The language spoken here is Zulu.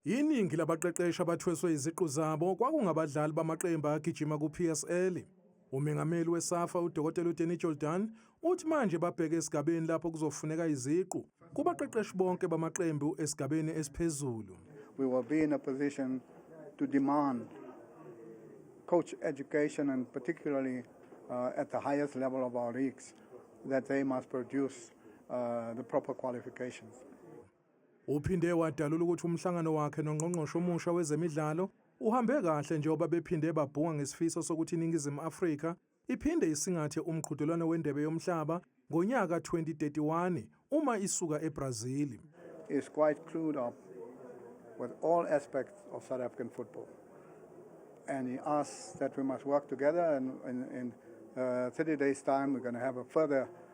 Iningi labaqeqeshi abathweswe iziqu zabo kwakungabadlali bamaqembu agijima ku-PSL. Umengameli weSafa uDokotela uDenny Jordaan uthi manje babheke esigabeni lapho kuzofuneka iziqu kubaqeqeshi bonke bamaqembu esigabeni esiphezulu. We will be in a position to demand coach education and particularly uh, at the highest level of our leagues that they must produce uh, the proper qualifications. Uphinde wadalula ukuthi umhlangano wakhe nongqongqoshe omusha wezemidlalo uhambe kahle njengoba bephinde babhunga ngesifiso sokuthi iNingizimu Afrika iphinde isingathe umqhudelwano weNdebe yoMhlaba ngonyaka 2031 uma isuka eBrazil. Is quite clued up with all aspects of South African football. And he asks that we must work together and in, in uh, 30 days time we're going to have a further